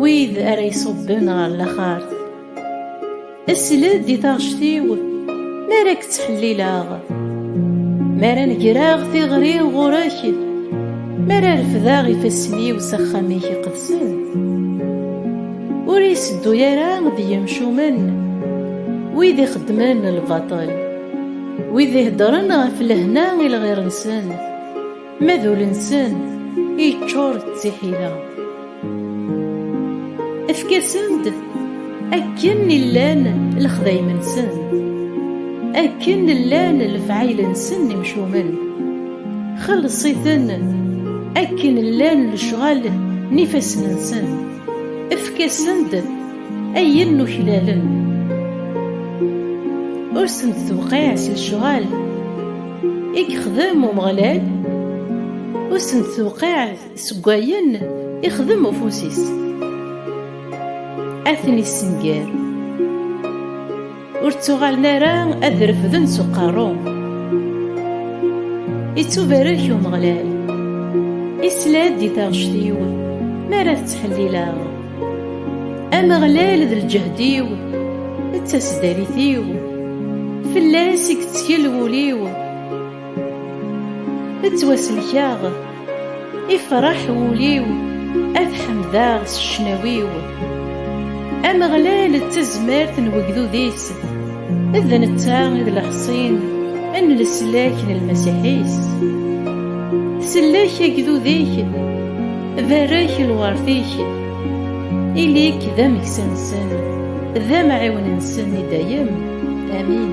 Wid ara iṣubben ɣer laxart. Sled i taɣect-iw mi ara k-ttḥellileɣ, mi ara negreɣ tiɣri ɣur-k, mi ara refdeɣ ifassen-iw s axxam-ik iqedsen. Ur iseddu ara d yimcumen, wid ixeddmen lbaṭel, wid iheddren ɣef lehna i lɣir-nsen. Ma d ul-nsen yeččur d tiḥila. Efk-asen-d akken llan lexdayem-nsen, akken llan lefɛayel-nsen imcumen. Xelleṣ-iten akken llan lecɣal n ifassen-nsen. Efk-asen-d ayen nuklalen. Ur sent-tewqiɛ s lecɣal. i yexdem Umeɣlal ur sent-tewqiɛ seg wayen ixdem ufus-is ad ten-issenger ur ttuɣalen ara ad refden s uqerru ittubarek Umeɣlal isla-d i taɣect-iw mi ara tettḥellileɣ Ameɣlal d lǧehd-iw d tasdarit-iw fell-as i yettkel wul-iw ttwaselkaɣ ifraḥ wul-iw ad ḥemdeɣ s ccnawi-w Ameɣlal d tazmert n wegdud-is d netta i d lexṣin n leslak n lmasiḥ-is sellek agdud-ik barek lwert-ik ili-k d ameksa-nsen d amɛiwen-nsen i dayem amin